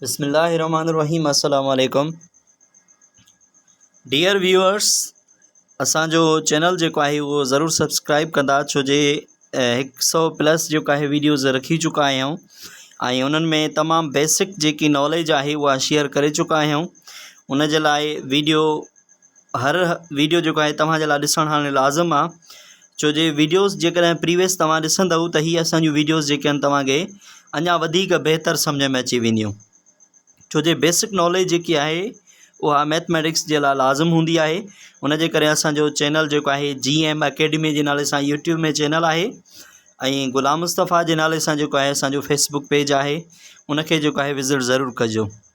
بسم الله الرحمن الرحيم السلام عليڪم ڊيئر ويورس اسان جو چينل جيڪو آهي اهو ضرور سبسڪرائب ڪندا ڇو جي هڪ سو پلس جيڪو آهي ويڊيوز رکي چڪا آهيون ۽ انهن ۾ تمام بيسڪ جيڪي ناليج آهي اها شيئر ڪري چڪا آهيون ان جي لاء ويڊيو هر ويڊيو جيڪو آهي توهان جي لاء ڏسڻ هاڻي لازم آ ڇو جي ويڊيوز جيڪڏهن پريويس توهان ڏسندؤ ته هي اسانجون ويڊيوز جيڪي آهن توهان کي اڃا وڌيڪ بهتر سمجهه ۾ اچي وينديون ڇو جي بيسڪ ناليج جيڪي آهي اها ميٿميٽڪس جي لاء لازم هوندي آهي ان جي ڪري اسانجو چينل جيڪو آهي جي ايم اڪيڊمي جي نالي سان يوٽيوب ۾ چينل آهي ۽ غلام مصطفيٰ جي نالي سان جيڪو آهي اسانجو فيسبوڪ پيج آهي ان کي جيڪو آهي وزٽ ضرور ڪجو